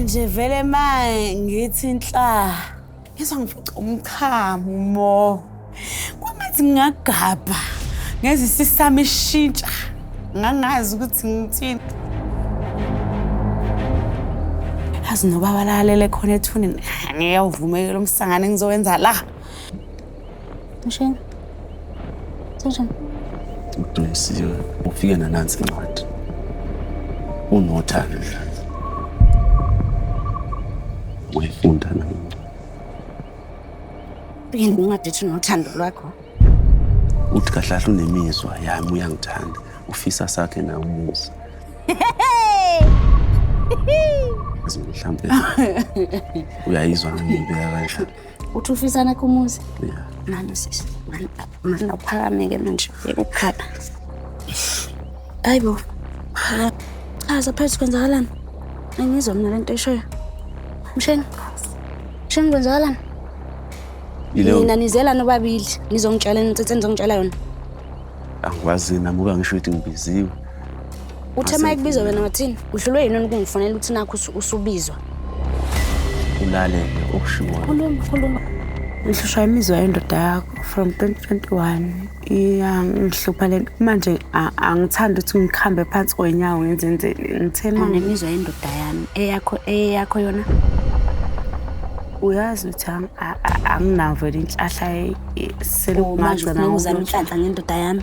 nje vele manje ngithi inhla ngizwa ngifuca umchamo mo kwamanzi ngingagabha ngeze isisami ishintsha ngangazi ukuthi ngithini azi noba balalele khona ethunini ngiyawuvumekela umsangane ngizowenza la Mshini. Sejam. Udumisiwe ufike nanansi incwadi. Unothando mdlalo. Uyifunda na incwadi. Yini incwadi ethi unothando lwakho? Uthi kahlahla unemizwa yami uyangithanda. Ufisa sakhe na umuzi. Mhlawumbe uyayizwa ngibeka kanjani. uthi ufisa nakho umuzi yeah. nani sisi manda uphakameke manje yekukhala hayi bo chaza phezu kwenzakalani angizwa mina le nto eshoyo msheni msheni kwenzakalani nina nizelani obabili nizongitshela nitsetse nizongitshela yona angikwazi namuka ngisho ukuthi ngibiziwe Uthe uma ekubizwa wena wathini? Uhlulwe yini ukungifonela ukuthi nakho usubizwa? Ulalele okushiwo. Khuluma, khuluma. Ngihlushwa imizwa yendoda yakho from 2021 iyangihlupha le nto manje angithandi ukuthi ngikhambe phansi kwenyawo ngenzenzeni ngithema nemizwa yendoda yami eyakho eyakho yona uyazi ukuthi anginavo le nhlahla selukumanje ngizama inhlanhla ngendoda yami